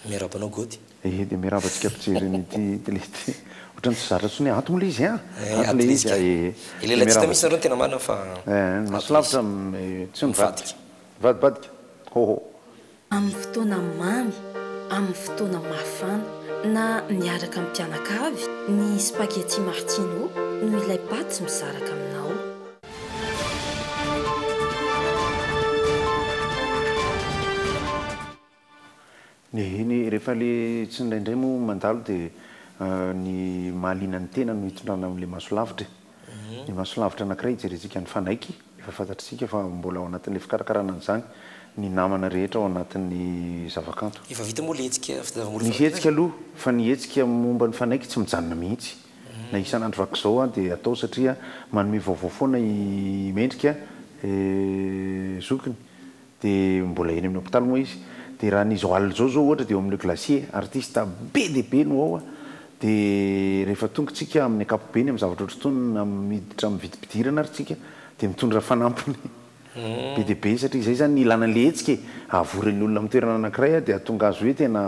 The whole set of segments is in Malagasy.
Miaraba anao Gody. Ehe dia miaraba antsika mpijery an'ity tele ity. Ohatran'ny tsy zatra intsony hoe ato moa le izy an! Eh, ato le izy an! Ehe. Dia miaraba. Ilay latsita mihintsy nareo no tena marina fa ato le izy. Eh, ny maso lavitra tsy mivadika. Mivadibadika. Ho ho. Amin'ny fotoana mamy, amin'ny fotoana mafana, na miaraka amin'ny mpianakavy, ny spaghetti martino no ilay paty mizaraka aminao. Eny e, rehefa le tsy indraindray moa mandalo dia ny mahaliana ny tena no hitondrana amin'ilay maso lavitra e. Ny maso lavitra anankiray hijerentsika ny fanaiky, efa fantatr'isika fa mbola ao anatin'ilay fikarakarana an'izany ny namana rehetra ao anatin'ny zavakanto. Efa vita moa le hetsika fitadiavam-bolo efa. Ny hetsika aloha, fa ny hetsika momba ny fanaiky tsy mijanona mihitsy. Na isan'andro vaky izao aho dia atao satria manome vaovao foana i Mendrika zokiny dia mbola eny amin'ny hopitaly moa izy dia raha ny izao alina izao zao ohatra dia eo amin'ny Le Glacier, artista be dia be no ao a! dia rehefa tonga tsika amin'ny ankapobeny amin'ny zavatra ohatr'itony na miditra amin'ny vidim-pidirana ary tsika dia mitondra fanampiny. Be dia be satria izay izany ilana ilay hetsika e, hahavory ny olona amin'ny toerana anankiray dia hahatonga azy hoe tena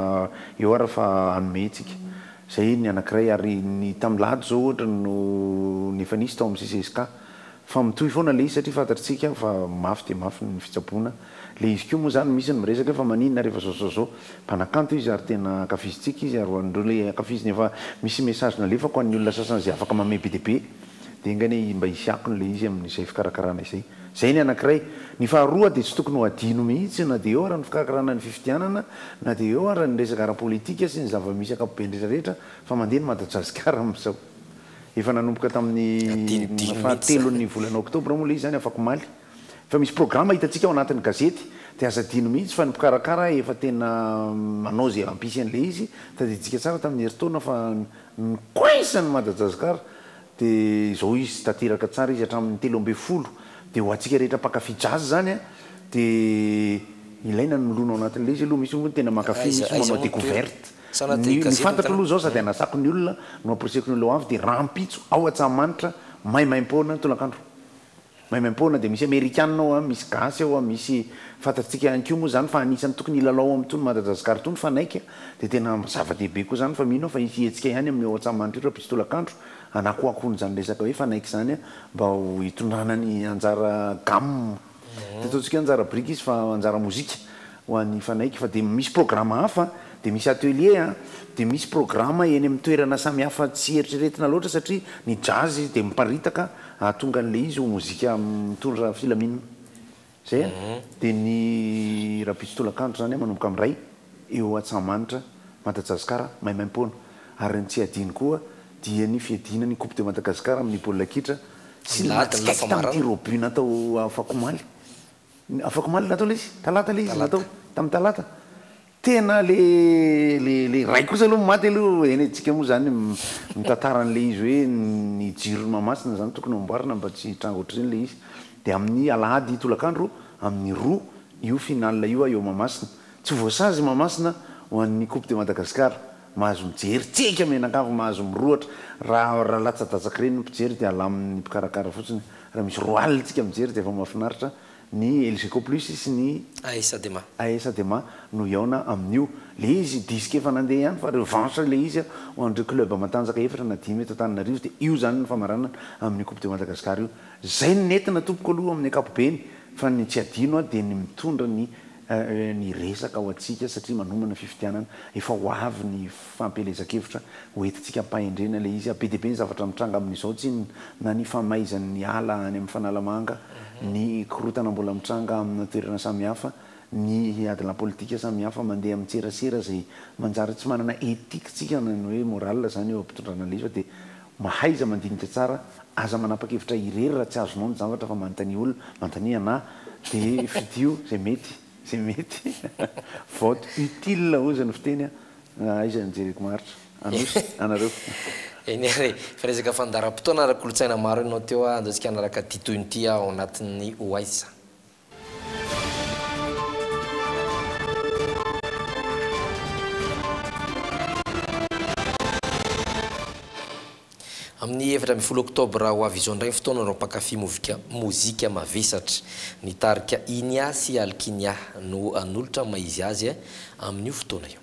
eo ary fa hanome hetsika. Izay ny anankiray ary ny tamin'ny lahady izao ohatra no ny efa nisy tao amin'ny CCSK. Fa mitohy foana ilay izy satria fantatr'tsika fa mafy dia mafy ny fitsaboana. Ilay izy koa moa izany misy ny miresaka hoe fa maninona ary efa izao izao izao. Mpanakanto izy ary tena ankafizintsika izy ary ho an'ireo ilay ankafiziny efa misy message nalefako ho an'ny olona sasany izay afaka mamehy be dia be. Dia enga anie mba hisy akony ilay izy amin'izay fikarakarana izay. Izay ny anankiray. Ny faharoa dia tsy tokony ho adino mihitsy na dia eo ary ny fikarakarana ny fifidianana na dia eo ary ny resaka ara-politika sy ny zava-misy ankapobeny rehetra rehetra fa mandeha ny Madagasikara amin'izao. Efa nanomboka tamin'ny fahatelon'ny volana oktobra moa ilay izy izany afak'omaly. Efa misy programa hitantsika ao anatin'ny gazety dia aza adino mihitsy fa ny mpikarakara efa tena manao izay hampisy an'ilay izy. Tadidintsika tsara tamin'ny herintaona fa Ny coins an'i Madajazicar dia izao izy tateraka tsara izy hatramin'ny telo ambin'ny folo dia ho antsika rehetra mpankafy jazz izany an dia ilaina ny milona ao anatin'ilay izy aloha misy hono tena mankafy misy hono manao decouverte ny ny fantatro aloha izao sady anasako ny olona no amporisiako ny olona ho avy dia rahampitso ao Antsahamanitra maimaimpoana tolakandro Maimaimpoana dia misy amerikana ao a, misy gasy ao a, misy fantatsika ihany koa moa zany fa anisany tokony hilalao am tony Madagascar tony fanaiky a, dia tena zava dehibe koa zany fa mino aho fa hisy hetsika ihany amin'ny ao Antsahamanitra io raha mpisy tolakandro hanakoakoana izany resaka hoe fanaiky izany a mba ho hitondrana ny anjara gamme, tsy ataontsika hoe anjara biriky izy fa anjara mozika. Ho an'ny mifanaiky fa dia misy programa hafa, dia misy atelier a, dia misy programa eny amin'ny toerana samy hafa tsy eritreretina loatra satria ny jazz dia miparitaka hahatonga an'ilay izy ho mozika mitondra filaminana. Izay a. Dia ny Rabitso Tolakandro izany a manomboka amin'ny iray eo Antsahamanitra, Madajazcar, maimaim-poana. Ary ny tsy adino koa dia ny fiadiana ny Coupe de Madagascar amin'ny baolina kitra sy ny match Ecta amin'ny tir au but natao afakomaly. Afaka omaly natao ilay izy, talata ilay izy natao, tamin'ny talata. Tena ilay ilay ray kosa aloha maty aloha, hainay tsika moa izany mitantara an'ilay izy hoe ny jiron'i Mahamasina izany tokony hamboarina mba tsy hitranga ohatr'izay ilay izy. Dia amin'ny alahady tolakandro amin'ny roa io finale io eo Mahamasina. Tsy voasazy i Mahamasina ho an'ny Coupe de Madagascar. Mahazo mijery tsika mianakavy mahazo mirohotra raha raha latsadatsak'ireny ny mpijery dia alamin'ny mpikarakara fotsiny raha misy roa alina tsika mijery dia efa mahafinaritra ny Elgeco plus sy ny ASADEMA. ASADEMA no hihaona amin'io ilay izy disque efa nandeha ihany fa revanche ilay izy a ho an'ireo club matanjaka efatra na dimy eto Antananarivo dia io izany no famaranana amin'ny coupe de Madagascar io izay no nentina tompoko aloha amin'ny ankapobeny fa ny tsy adino aho dia ny mitondra ny Ee, ny resaka ho antsika satria manomana fifidianana, efa ho avy ny fampielezan-kevitra ho entintsika am-pahendrena ilay izy. Be dia be ny zavatra mitranga amin'izao tsinona, na ny famaizan'ny ala any amin'ny Fanalamanga, ny korotana mbola mitranga amina toerana samihafa, ny adilahy politika samihafa mandeha amin-tserasera izay manjary tsy manana ethique-tsika na ny hoe morale izany eo am-pitondrana alefa dia Mahaiza mandinika tsara, aza manapakevitra irery raha tsy azonao ny zavatra fa manontania olona, manontania anah dia fidio izay mety, izay mety, vote utile hozy ny fiteny a! aiza ny jereko maharitra, Anosy, anareo. Eny ary, fa resaka fandaharam-potoana ara-kolontsaina maro enao teo a, andao tsika hanaraka ity tohin'ity ao anatin'ny ho aiza. Amin'ny efatra ambin'ny folo oktobra ho avy izao indray ny fotoanan'ireo mpankafy mozika mavesatra. Ny tarika Inia sy Alkinia no hanolotra ny maha izy azy amin'io fotoana io.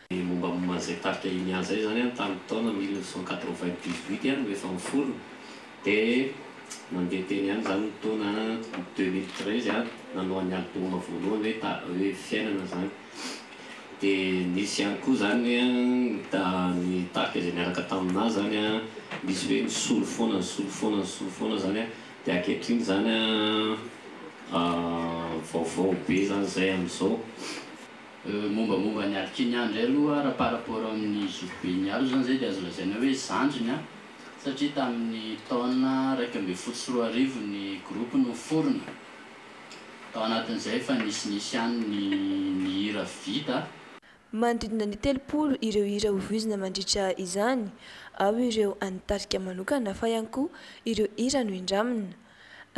Ny mombamomba an'izay tarika Inia izay izany an, tamin'ny taona mille neuf cent quatre-vingt-dix-huit ihany no efa niforona, dia nandeha teny ihany izany ny taona deux mille treize aho nanao an'ny album voalohany hoe ta hoe fiainana izany. Dia nisy ihany koa izany hoe an, ny ta ny tarika izay niaraka taminà izany an, misy hoe nisolo foana, nisolo foana, nisolo foana izany an, dia ankehitriny izany an, vaovao be izany izay amin'izao. Mombamomba an'i Alkimia indray aloha raha par rapport amin'ny zokiben'i Alo izany izay dia azo lazaina hoe zandriny satria tamin'ny taona iraika ambin'ny folo sy roa arivo ny groupe no niforona. Tao anatin'izay efa nisinisy ihany ny ny hira vita. Manodidina ny telopolo ireo hira hovoizina mandritra izany. Ao ireo an'ny tarika manokana fa ihany koa ireo hira nohindramina.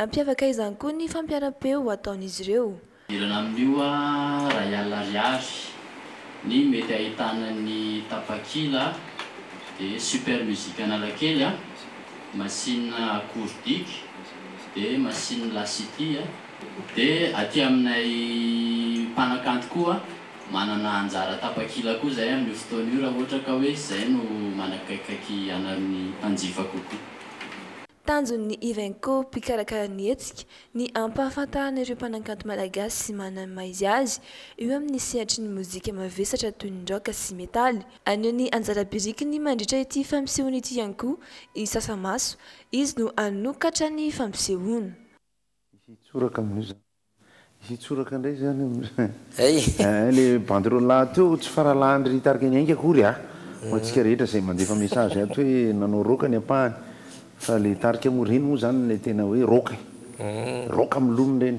Hampiavaka izany koa ny fampiaram-peo ataon'izy ireo. Manerana amin'io iray alina ariary. Ny mety ahitana ny tapakila dia Super Music Analakely, machine accourdique dia machine La City. Dia aty aminay mpanakanto koa manana anjara tapakila koa izahay amin'io fotoana io raha ohatra ka hoe izay no manakaikikaiky anareo ny mpanjifa kokoa. Tanjon'ny Ivenco, mpikarakara ny hetsika, ny hampahafantarana ireo mpanankanto malagasy sy manana ny maha izy azy eo amin'ny sehatry ny mozika mavesatra toy ny rock sy metaly. Haneho ny anjara birikiny mandritra ity fampisehoana ity ihany koa i Sasamaso, izy no hanokatra ny fampisehoana. Misy tsoraka amin'io izany. Hitsoraka indray izany amin'izay le banderole ato eo tsy faralahan-dry ry tarika ny ainga akory a! ho antsika rehetra izay mandefa message ato hoe nanao rock ny ampahany fa le tarika moa ireny moa izany ilay tena hoe rock e! rock milona ireny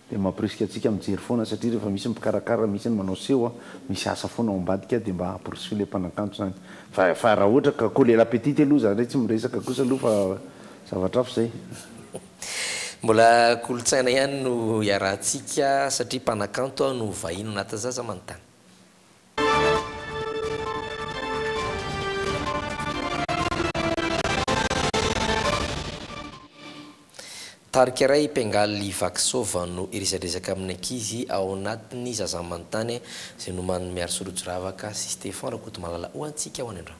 dia mampirisika antsika mijery foana satria rehefa misy ny mpikarakara misy ny manao seho a! misy asa foana ao ambadika dia mba hampirisihio ilay mpanakanto izany fa fa raha ohatra ka coller la petite aloha za indray tsy miresaka kosa aloha fa zavatra hafa izay. Mbola kolontsaina ihany no iarahantsika satria mpanakanto aho no vahiny ho natazaza manontany. Tarika iray mpiangaly i Vaky Sôva no hiresadresaka amin'ny ankizy ao anatin'ny Zaza Manontany izay nomanin'i Miary Sorojy Ravaka sy Stefan Rakotomalala ho antsika ao any an-drano.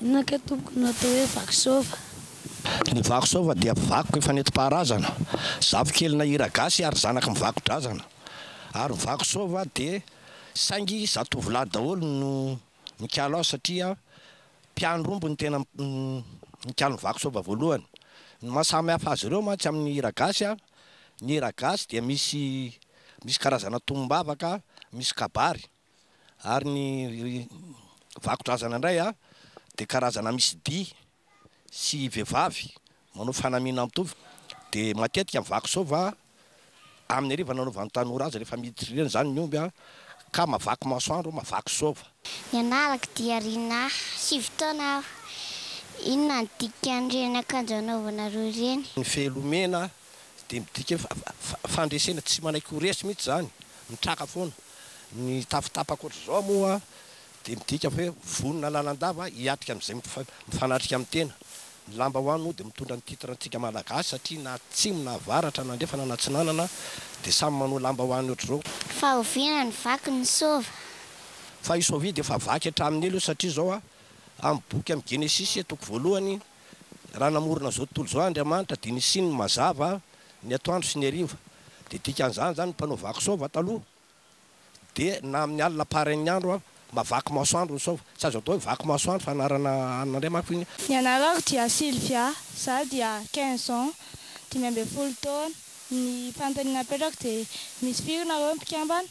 Inona kay tompoko no atao hoe vaky sôva? Ny vaky sôva dia vaky efa nenti-paharazana, zafikelina hiragasy ary zanaky ny vaky drazana. Ary ny vaky sôva dia saingy zatovolahy daholo no mikalo azy satria mpiandry omby no tena mikalo ny vaky sôva voalohany. Ny maha samy hafa azy ireo mantsy amin'ny hiragasy, ny hiragasy dia misy misy karazana tombavaka, misy kabary. ary ny vakodrazana indray dia karazana misy dihy sy vehivavy manao fanamiana mitovy dia matetika ny vaky sôva amin'ny hariva nanaovan'ny tanora azy rehefa miditra ireny izany ny omby ka mavaky masoandro mavaky sôva. Ny anarako dia Rinah, sivy taona aho, inona no dikan'ireny akanjo anaovanareo ireny? Ny fehiloha mena dia midika hoe fandresena tsy manaiky ho resy mihitsy izany, mitraka foana. Ny tafotapaka ohatr'izao moa dia midika hoe vonona lalandava hiatrika amin'izay mifanatrika amin'ny tena. Ny lambahoany moa dia mitondra ny titre antsika Malagasy satria na atsimo na avaratra na andrefana na atsinanana dia samy manao lambahoany ohatr'izao. Fa oviana ny vaky ny sôva? Fa i sôvia dia efa vaky hatramin'ny ela io satria izao amin'ny boky amin'ny Genesisy toko voalohany Raha namorona izao tontolo izao Andriamanitra dia nisiany ny mazava, ny atoandro sy ny hariva. Dia dikan'izany izany ny mpanao vaky saova taloha dia na amin'ny alina parain'ny andro mavaky masoandro ny saova. Tsy azo atao hoe vaky masoandro fa anarana hanina indray manko iny. Ny anarako dia Sylvia, izaho dia quinze ans, dimy ambin'ny folo taona. Ny fanontaniana apetrako dia misy firy nareo ny mpikambana?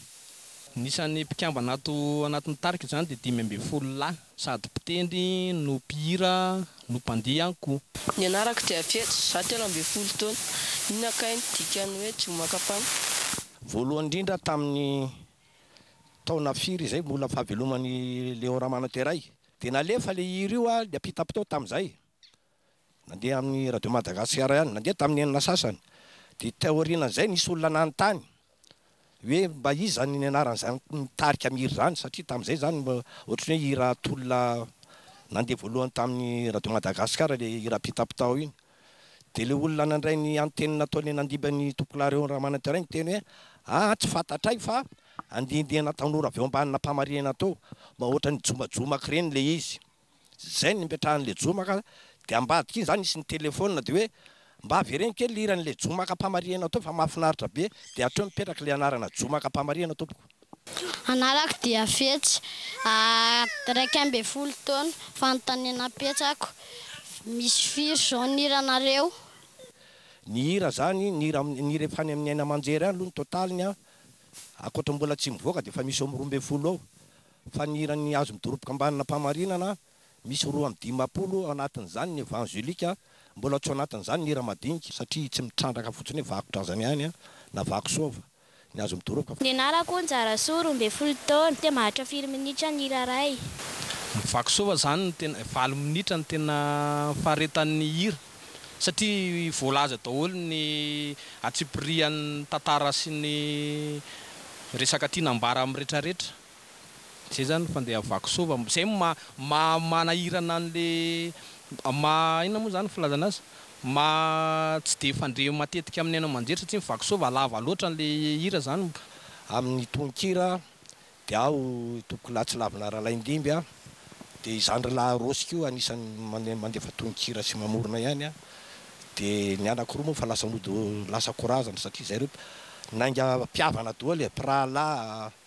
Ny isan'ny mpikambana ato anatin'ny tarika izany dia dimy ambin'ny folo lahy. Sady mpitendry no mpihira no mpandihy ihany koa. Ny anarako dia Fetsy, izaho telo ambin'ny folo taona. Inona kay ny dikan'ny hoe Jomakapana? Voalohany indrindra tamin'ny taona firy izay mbola fahaveloman'i Léon Ramanoteray dia nalefa ilay hira io ary niampita-potoana tamin'izay Nandeha amin'ny Radio Madagasikara ihany, nandeha tamin'ny enina sasany. Dia teo aorianan'izay nisy olona nanontany hoe mba iza ny nianaran'izany nitarika ny hira izany satria tamin'izay izany mba ohatran'ny hoe hira tolona nandeha voalohany tamin'ny Radio Madagasikara ilay hira Pitapitao iny. Dia ilay olona nandray ny anteny nataon'i Nandiba ny Tompolahareo Ramanantiray niteny hoe aa tsy fantatray fa andiandiana tanora avy ao ambanina mpamarinana tao, mba ohatran'ny jomajomak'ireny ilay izy. Zay no nipetrahan'i Lejomaka dia ambadika iny zany nisy nitelefônina dia hoe mba avereno kely hiran'ilay Jomaka Mpamarihana teo fa mahafinaritra be dia hatreo mipetraka ilay anarana Jomaka Mpamarihana tompoko. Anarako dia Fetsy, iraika ambin'ny folo taona, fanontaniana apetrako, misy firy zao ny hiranareo? Ny hira zany, ny hira ny hira efa any amin'ny haina aman-jery any aloha ny totaliny an, ankoatra ny mbola tsy mivoaka dia efa misy eo amin'ny roa ambin'ny folo eo. fa ny hiran'ny Azo Midoroboka Ambanin'Ampamarinana misy roa amby dimampolo ao anatin'izany ny Evangelika, mbola tsy ao anatin'izany ny hira madinika, satria tsy mitrandraka fotsiny hoe vakotrazany ihany na vakosoava ny Azo Midoroboka fa. Ny anarako Njarasoa, roa ambin'ny folo taona, dia maharitra firy minitra ny hira iray? Ny vakosoava izany no tena, valo minitra no tena faharetan'ny hira, satria voalaza daholo ny antsipirihan'ny tantara sy ny resaka tiana ambara amin'ny retraretra. Zay zany fandeha vaky sôva zay maha manahirana anle maha inona moa zany filazana azy maha tsy de fandre matetika aminy haino aman-jery satria ny vaky sôva lava lôtra anle hira zany. Amin'ny tononkira dia aho tompoko lahy tsy lavina Ralaindimby a, dia i zandry lahy Rôsy koa anisany mandefa tononkira sy mamorona ihany a, dia ny anako roa moa efa lasa mody lasa ko razana satria zay roa nainga mpihavana doly e, mpirahalahy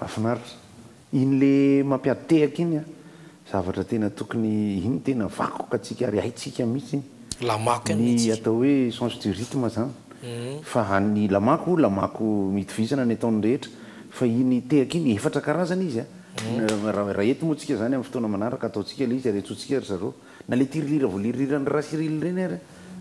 Mafinaritra. Iny le mampiady tehaka iny a. Zavatra tena tokony, iny tena vakoka tsika ary haitsika mihitsy iny. Lamako ny atao hoe sens du rythme zany. Fa any lamako, lamako mitovizana ny ataon'ny rehetra. Fa iny tehaka iny, efatra karazana izy a. Raha eto moa tsika zany amin'ny fotoana manaraka ataontsika le izy ary antsointsika ry zareo. Na le tirilira voliriran'i Rasirily ireny ary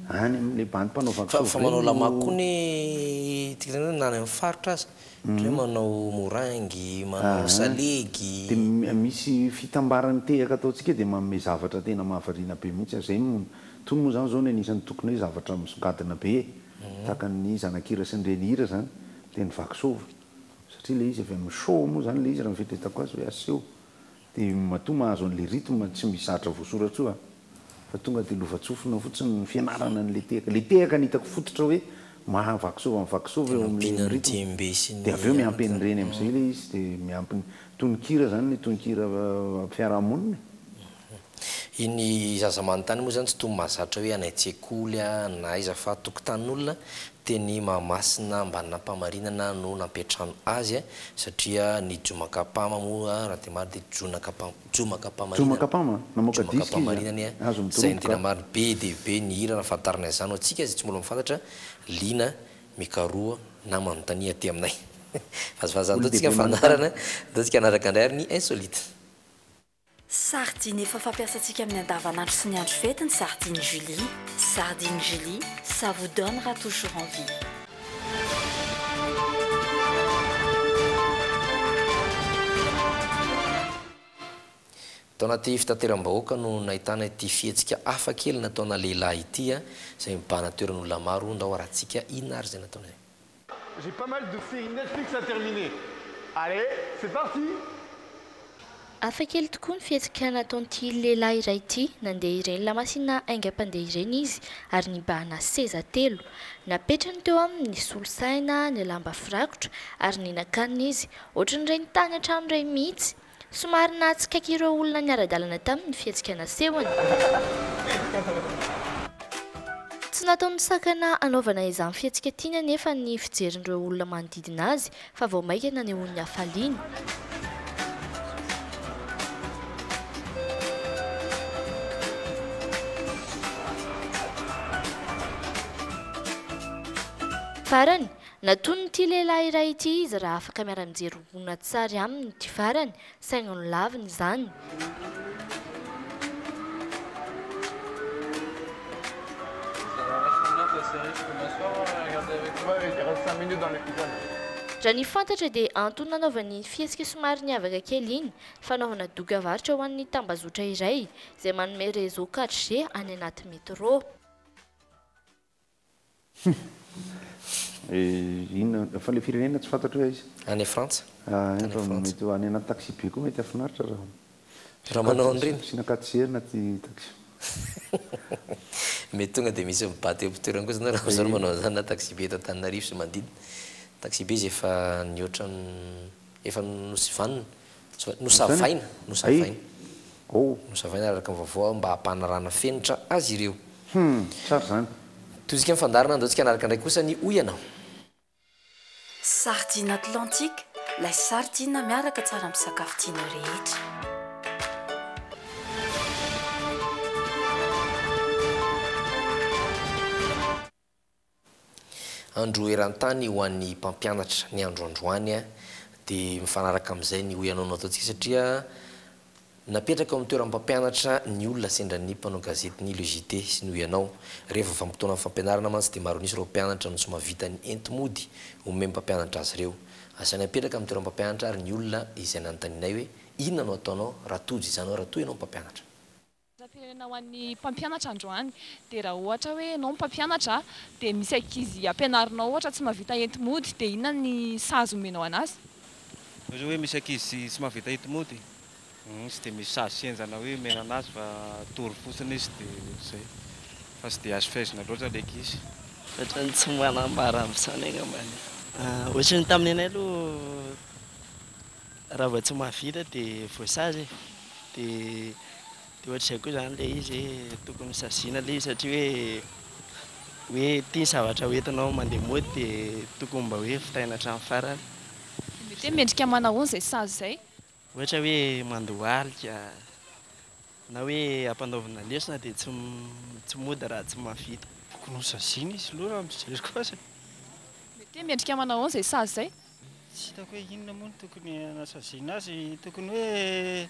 any amin'ilay bandy mpanao vaky soa Fa manao lamaco koa ny tirilira na any amin'ny faritra aza, ohatra hoe manao moringue, manao salegy. Dia misy fitambaran'ny tehaka ataontsika dia manome zavatra tena mahavariana be mihitsy ary izay no, itony moa izany izao ny anisan'ny tokony hoe zavatra misongadina be tahaka ny zanak'hira sy ny renihira izany dia ny vaky soa satria ilay izy avy amin'ny show moa izany ilay izy raha ny fieritreretako azy hoe aseho Dia matoa mahazo an'ilay rythme tsy misy zatra voasoratra io aho fa tonga dia lovantsofina fotsiny ny fianarana an'ilay tehaka. Ilay tehaka no hitako fototra hoe maha vakisova an'i vakisova eo amin'ilay rythme. Dia avy eo miampy an'ireny amin'izay ilay izy dia miampy ny tononkira izany ny tononkira ara-piarahamonina e. Ny zaza manontany moa izany tsy toa mahazatra hoe any an-tsekoly na aiza fa tokotanin'olona Teny Mahamasina Ambanin'Ampamarinana no nampiantrano azy satria ny Jomakapama moa raha tena marina dia Jonakapama, Jomakapamarinana, Jomakapama, namoaka disque izy an, azo ny Izay no tena marina, be dia be ny hira nahafantarany an'izany ho antsika izay tsy mbola mahafantatra, liana mikaroha na manontania aty aminay. Vazivazy izany, ataontsika fandaharana, ataontsika hanaraka indray ary ny Insolite. Sardine efa fampiasantsika amin'ny andavanandro sy ny andro fety ny sardine Julie, sardine Julie, ça vous donnera toujours envie. Tao anaty fitateram-bahoaka no nahitana ity fihetsika hafa kely nataona lehilahy ity izay mibahana toeran'olona maro ndao arahantsika inona ary izay nataony. J'ai pas mal de séries Netflix à terminer Allez c'est parti! Hafakely tokoa ny fihetsika nataon'ity lehilahy iray ity. Nandeha ireny lamasinina haingam-pandeha ireny izy ary nibahana seza telo. Napetrany teo aminy ny solosaina, ny lamba firakotra ary ny nakaniny izy. Ohatran'ireny tany hatramin'ireny mihitsy. Somary nahatsikaiky ireo olona niara-dalana taminy ny fihetsika nasehony. Tsy nataony nisakana hanaovana izany fihetsika tiany anefa ny fijerin'ireo olona manodidina azy fa vao mainka nanehoany ny hafaliany. Farany, Natonin'ity lehilahy iray ity izy raha afaka miara-mijery horonantsary aminy ity farany, saingy nolaviny izany. Raha ny fantatra dia antony nanaovany iny fihetsika somary niavaka kely iny, fanaovana doka varotra ho an'ny tambazotra iray izay manome réseau 4G any anaty métro. Humm inona fa le firenena tsy fantatro hoe aiza. Any Frantsa. Any Frantsa. Mety any anaty taxi be koa mety hafinaritra raha. Raha manao an'ireny. Asiana katiera anaty taxi. Mety tonga dia misy mibata eo am-pitoerana kosa ianao raha izaho no manao an'izany na taxi be eto Antananarivo sy manodidina. Taxi be izay efa nihoatra ny. Efa nosivanina, nosavaina, nosavaina, nosavaina araka ny vaovao mba hampanarahana fenitra azy ireo. Hum, tsara izany. Tohintsika ny fandaharana andao tsika hanaraka indray kosa ny hoy ianao. Sardine Atlantique, lay sardine miaraka tsara amin'ny sakafo tianao rehetra. Andro eran-tany ho an'ny mpampianatra ny andro androany dia mifanaraka amin'izay ny ho ianao no ataontsika satria napetraka eo amin'ny toeran'ny mpampianatra ny olona sendra ny mpanao gazety ny Le JT sy ny ho ianao. Rehefa vanim-potoanan'ny fampianarana mantsy dia maronisa ireo mpianatra no tsy mahavita ny enti-mody omen'ny mpampianatra azy ireo. Asainay apetraka amin'ny toeran'ny mpampianatra ary ny olona izay nanontanianay hoe inona no ataonao raha tojo izany hoe raha toa ianao mpampianatra. Laharam-pirenena ho an'ny mpampianatra androany dia raha ohatra hoe ianao mpampianatra dia misy ankizy ampianarinao ohatra tsy mahavita enti-mody dia inona ny sazy omenao anazy? Ohatra hoe misy ankizy tsy mahavita enti-mody izy dia misy sazy sy henjana hoe omena anazy fa tory fotsiny izy dia ohatr'izay fa tsy dia azo fehezina loatra ilay ankizy. Ohatran'ny tsy manambara amin'izany angamba ny. Ohatran'ny tamin'ny anay aloha. Raha vao tsy mahavita dia voasazy e! Dia ohatr'izay koa izany ilay izy hoe tokony saziana ilay izy satria hoe hoe ity ny zavatra ho entinao mandeha mody dia tokony mba hoe vitaina hatramin'ny farany. Dia mety hoe mendrika manahoana izay sazy izay? Ohatra hoe mandohalika na hoe ampanaovina lesona dia tsy tsy mody raha tsy mahavita. Tokony ho saziana izy aloha raha ny fijeriko azy e! Mety hoe mendrika manahoana izay sazy izay? Tsy hitako hoe inona moa no tokony hanasaziana azy, tokony hoe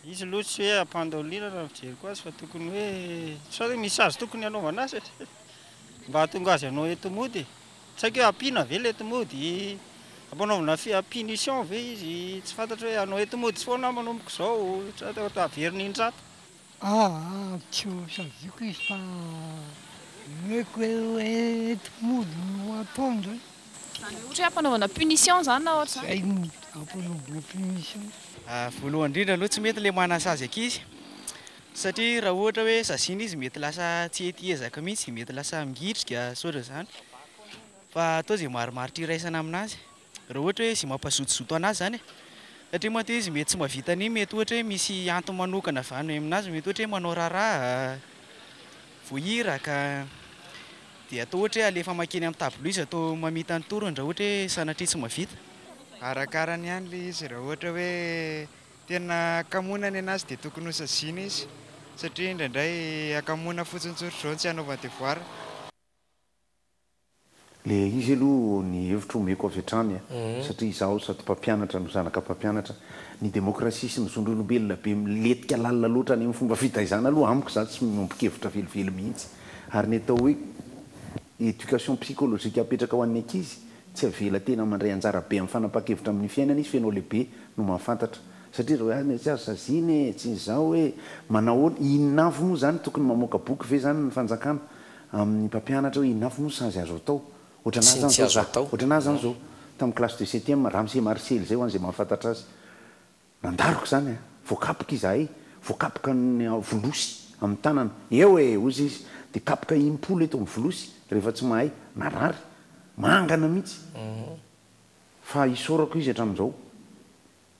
izy aloha tsy hoe hampandry ao lirany raha ny fijeriko azy fa tokony hoe sao hoe misy azy tokony hanaovana azy satria mba hahatonga azy hanao ento mody e, tsy haiko hoe hampiana ve ilay ento mody, hampanaovina punition ve izy, tsy fantatro hoe hanao ento mody foana aho manomboka izao sa averina indrato. Aah tsy ho saziako izy fa omeko hoe enti-mody no ataony izany. Izany hoe ohatra hoe ampanaovana punition izany na ohatra izany? Zay no ampanaovana punition. Voalohany indrindra aloha tsy mety ilay manasazy ankizy satria raha ohatra hoe saziana izy mety lasa tsy hety hiezaka mihitsy, mety lasa mingitrika sy ohatr'izany fa atao izay marimaritra iraisana aminazy. Raha ohatra hoe izay mampazotozoto an'azy izany e. Satria mantsy izy mety tsy mahavita an'iny, mety ohatra hoe misy antony manokana avy any amin'azy, mety ohatra hoe manao raharaha, voahiraka, dia atao ohatra hoe alefa mankeny amin'ny table izy atao mamita ny torony raha ohatra hoe sanatria tsy mahavita. Arakarany ihany ilay izy, raha ohatra hoe tena hakamoana ny an'azy dia tokony ho saziana izy, satria indraindray hakamoana fotsiny tsotr'izao ny tsy hanaovany devoir. Le izy aloha ny hevitro omeko avy hatrany a, satria izaho sady mpampianatra no zanaka mpampianatra, ny demokrasia sy ny zon'olombelona be miletika lalina loatra any amin'ny fomba fitaizana aloha amiko za tsy miombon-kevitra velively mihitsy. Ary ny atao hoe éducation psychologique apetraka ho an'ny ankizy, tsy avela tena mandray anjara be amin'ny fanapahan-kevitra amin'ny fiainana izy f'enao lehibe no mahafantatra. Satria zao hoe tsy azo saziana e, tsy izao e, manao ahoana, inona avy moa zany, tokony mamoaka boky ve zany ny fanjakana? Amin'ny mpampianatra hoe inona avy no sazy azo atao. Ohatranà Sy ny zany tsy zao azo za. atao. Ohatranà zany zao. Tamin'ny classe de septième, Ramose Marcely zay ho an'izay mahafantatra azy. Nandaroka izany an! Voakapoka izahay. Voakapoka ny volosy amin'ny tanana. Eo e! hoy izy. Dia kapoka impolo eto amin'ny volosy rehefa tsy mahay. Narary. Mangana mihitsy. Fa isaorako izy hatramin'izao.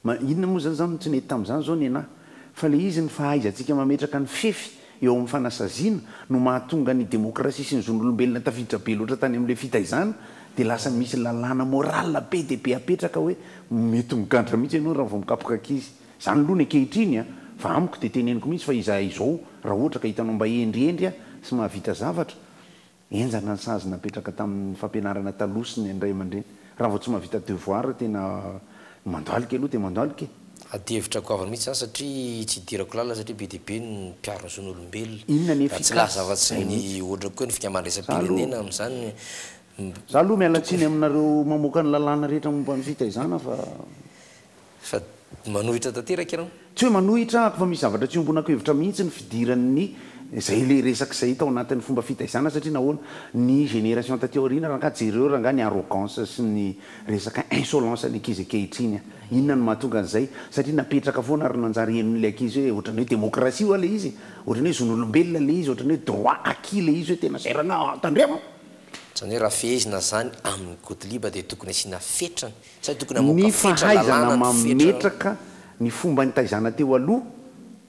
Ma inona moa zany zany no tsy nety tamin'izany zao nenah? Fa le izy ny fahaizantsika mametraka ny fefy eo amin'ny fanasaziana no mahatonga ny demokrasia sy ny zon'olombelona tafiditra be loatra tany amin'ilay fitaizana dia lasa misy lalàna moral be dia be apetraka hoe mety migadra mihitsy ianao raha vao mikapoka ankizy. Zany aloha ny ankehitriny an! Fa amiko dia teneniko mihitsy fa izahay izao raha ohatra ka hitanao mba hendrihendry an! sy mahavita zavatra, Henjana ny sazy napetraka tamin'ny fampianarana taloha sy ny an'ny ray aman-dreny. Raha vao tsy mahavita devoir tena mandohalika aloha dia mandohalika e! Adihevitra goavana mihitsy izany satria tsy idirako lalina satria be dia be ny mpiaro ny zon'olombelona. Inona ny efficace? Raha tsy laza afa-tsy ny hoatrako koa ny fika mandraisam-pirenena amin'izany tokony. Za aloha miala tsiny aminareo mamoaka ny lalàna rehetra momba ny fitaizana fa. Fa manohitra tanteraka ianao. Tsy hoe manohitra ako fa misy zavatra tsy iombonako hevitra mihitsy ny fidiran'ny zay le resaka zay tao anatin'ny fomba fitaizana satria nahoana ny génération taty aoriana rangah jereo rangah ny arrogance sy ny resaka insolence ny ankizy ankehitriny a! Inona no mahatonga an'izay satria napetraka foana ary nanjary henon'le ankizy hoe ohatrany hoe démocratie hoa le izy e! Ohatrany hoe zon'olombelona le izy, ohatrany hoe droit acquis le izy hoe tena zay rangah a! Tandremo! Zany hoe raha fehezina zany amin'ny Godliba dia tokony asiana fetrany Ny fahaizana mametraka ny fomba nitaizana teo aloha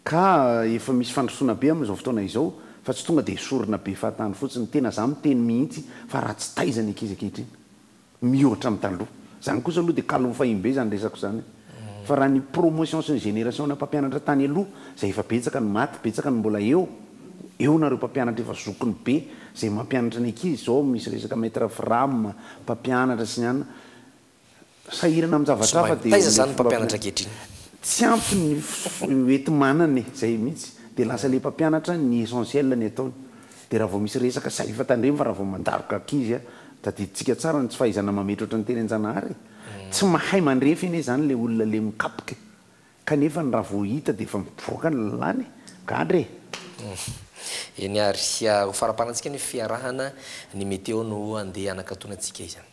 ka efa misy fandrosoana be amin'izao fotoana izao fa tsy tonga dia esorina be fahatany fotsiny. Tena izaho miteny mihitsy fa raha tsy taiza ny ankizy ankehitriny, mihoatra amin'ny taloha. Izany kosa aloha dia kalo fahim-be izany resako izany fa raha ny promotion sy ny génération ana mpampianatra tany aloha izay efa betsaka ny maty, betsaka ny mbola eo, eo nareo mpampianatra efa zokiny be izay mampianatra ny ankizy, izao misy resaka maître Fram, mpampianatra sy ny anona. sahirana amin'ny zavatra hafa dia ilay fomba fianarana tsy ampy ny hoenti-manana e, izay mihitsy, dia lasa ilay mpampianatra ny essentiel ny ataony, dia raha vao misy resaka sahy efa tandremo fa raha vao mandaroka ankizy a, tadidintsika tsara ny tsy fahaizana mametratra ny teny an-janahary e, tsy mahay mandrefy anie izany ilay olona ilay mikapoka e, kanefa ny raha vao hita dia efa mivoaka ny lalàna e, gadra e! Eny ary, ho faramparantsika ny fiarahana, ny meteo no handeha hanakatona antsika izany.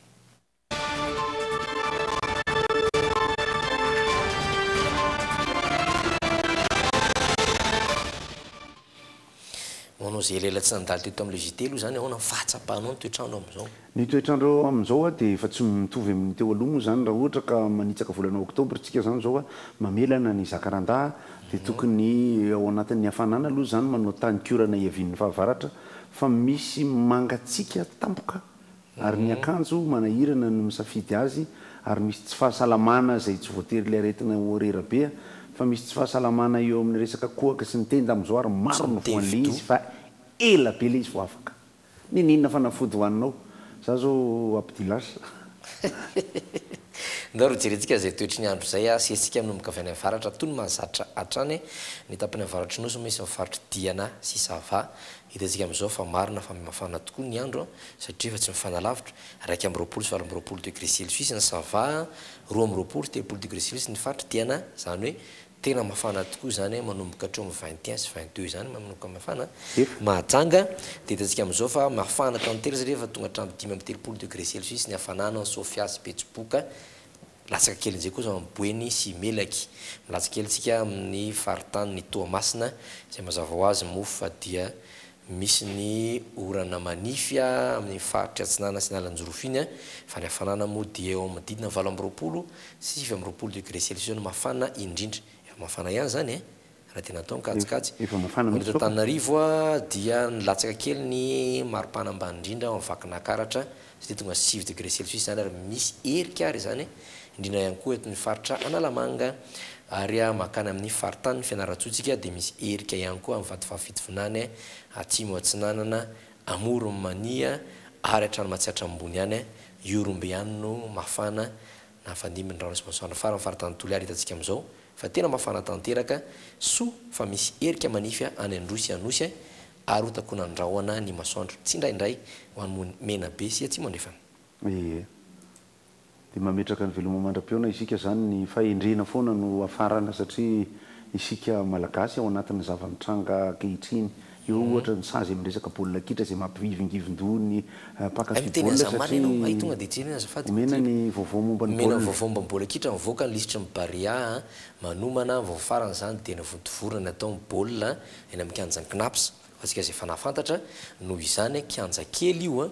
Hoanao izay elaela tsy nandalo teto amin'ilay JT aloha izany ahoana ny fahatsapanao ny toetr'andro amin'izao? Ny toetr'andro amin'izao a dia efa tsy mitovy amin'ny teo aloha moa izany raha ohatra ka manitsaka volana oktobra isika izany izao a, mamelana ny zakarandaha a, dia tokony ao anatin'ny hafanana aloha izany manao tany kiorana iavian'ny fahavaratra fa misy mangatsiaka tampoka Ary ny akanjo manahirana no misafidy azy ary misy tsy fahasalamana izay tsy voatery ilay aretina ho rera be fa misy tsy fahasalamana eo amin'ny resaka kohaka sy ny tenda amin'izao ary maro no voan' ilay izy fa ela be ilay izy vao afaka. Niniana fanafody ho aninao za zao Abdilash. Ndao ry jerentsika izay toetry ny andro izay sy hetsika minomboka avy any avaratra toa ny mahazatra hatrany ny tapany avaratry nosy misy ny faritry Diana sy Sava Hitantsika amin'izao fa marina fa mafana tokoa ny andro satria efa tsy mifanalavitra, iraika amby roapolo sy valo amby roapolo degré celsius ny Sava, roa amby roapolo sy telopolo degré celsius ny faritra Tiana, izany hoe tena mafana tokoa izany manomboka hatreo amin'ny vingt et un sy vingt deux izany manomboka mafana, mahajanga, dia hitantsika amin'izao fa mafana tanteraka satria efa tonga hatramin'ny dimy amby telopolo degré celsius ny hafanana any Sofia sy Betsiboka, Latsaka kely amin'izay kosa ny Boeny sy Melaky. Milaza kely tsika amin'ny faritanin'i Toamasina, izay mazava ho azy moa fa dia misy ny orana manify amin'ny faritry Atsinanana sy Analanjirofo iny, fa ny hafanana moa dia eo amin'ny didina valo amby roapolo sy sivy amby roapolo degré celsius no mafana indrindra. Efa mafana ihany izany e! Raha dia natao ny kajikajy eto Antananarivo dia nilatsaka kely ny maripana ambany indrindra ao amin'ny Vakinakaratra satria tonga sivy degré celsius izany ary misy erika ary izany indrindra ihany koa eto amin'ny faritra Analamanga ary mankany amin'ny faritanin'i Fianarantsoa isika dia misy erika ihany koa amin'ny Vatovavy Fitovinany Atsimo Atsinanana Amoron'i Mania ary hatrany Matsiatra Ambony any Ihorombe any no mafana Nafandimby ny rano sy masoandro farany faritany Toliara hitantsika amin'izao fa tena mafana tanteraka, soa fa misy erika manify any Androy sy Anosy ary ho takonan'ny rahona ny masoandro tsindraindray ho any Mony Menabe sy Atsimo Andrefana. Ee. Dia mametraka ny veloma mandra-pihaona isika izany, ny fahendrena foana no hafarana satria isika Malagasy ao anatin'ny zava-mitranga ankehitriny Eo ohatra ny sazy amin'ny resaka baolina kitra izay mampivingivin-doha ny mpaka Hay miteny fibaolina azamana satria ianao, hay tonga dia jerena azafady omena Couture. ny vaovao momba ny Omena ny baolina. vaovao momba ny baolina kitra, mivoaka ny lisitry ny Barea manomana, vao farany izany dia navontovorina ny atao ny baolina eny amin'ny kianjan'ny Cnaps, ho antsika izay fanahafantatra, noho izany kianja kely io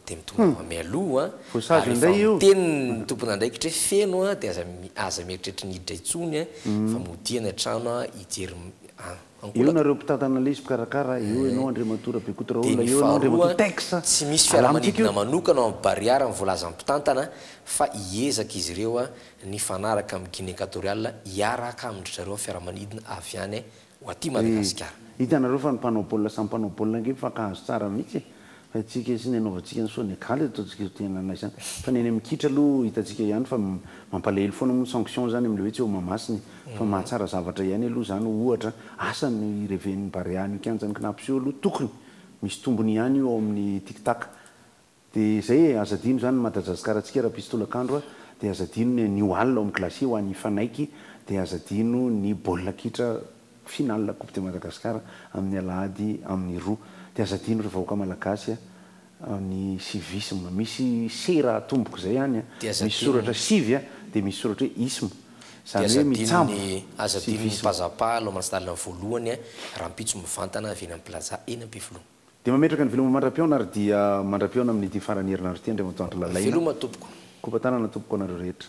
dia mitomany mialoha, Voasazy ary efa indray io. miteny ny tompon'andraikitra hoe feno dia aza aza mieritreritra ny hiditra intsony fa modiana trano hijery an. Eo nareo mpitantana lesy mpikarakara eo enao Andriamatoa Rabekota Raoul eo enao Andriamatoa Tex a! Tsy misy fiaramanidina manokana ao amin'ny Bariara ny voalazan'ny mpitantana fa hiezaka izy ireo nifanaraka amin'ny Guinée Equatoriale hiaraka amin-dry zareo ny fiaramanidina avy any ho aty Madagasikara. Hitanareo fa ny mpanao baolina samy mpanao baolina ange mifankahazo tsara mihitsy e! Haintsika sy ny hanaovantsika ny soa ny akala eto ataontsika io tena anay izany fa ny any amin'ny kitra aloha hitantsika ihany fa mampalahelo foana moa ny sanction izany amin'ilay hoe tsy eo Mahamasina e! fa mahatsara zavatra ihany aloha izany ohatra asa no hireven'ny Barea an'io kianjan'i Cnaps io aloha tokony misy tombony ihany io ao amin'ny Tic Tac dia izay e! aza adino izany ny Madajazikarantsika raha mpisy tolakandro a! dia aza adino ny anio alina ao amin'ny glacier ho an'ny mpanaiky dia aza adino ny baolina kitra Finale coupe de Madagascar amin'ny alahady amin'ny roa dia aza adino ry vahoaka malagasy a! ny civisme misy sera atomboka izay any a! Dia aza misy adino soratra ny. Civy a dia misy soratra hoe isme Dia izany aza hoe adino ny mitsabo aza adino ny civisme. Pazapa hanao mansdalina voalohany a! rahampitso mivantana avy eny amin'ny plaza eny Ampefiloha. Dia mametraka ny veloma mandra-pihaona ary dia mandra-pihaona amin'ity faran'ny herinandro ity Andriamatoa Andry Lalaina. Veloma tompoko. Kopa tanana tompoko anareo rehetra.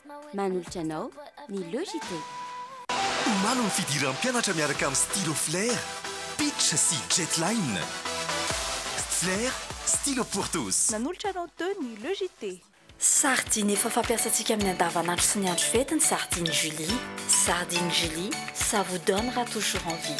Manolotra anao ny Logitech. Omaly ny fidiran'ny mpianatra miaraka amin'ny stylo Flair, Pitch sy Jetline. Flair, stylo pour tous. Nanolotra anao teo ny Logitech. Sardine efa fampiasantsika amin'ny andavanandro sy ny andro fety ny sardine Julie, sardine Julie, ça vous donnera toujours envie.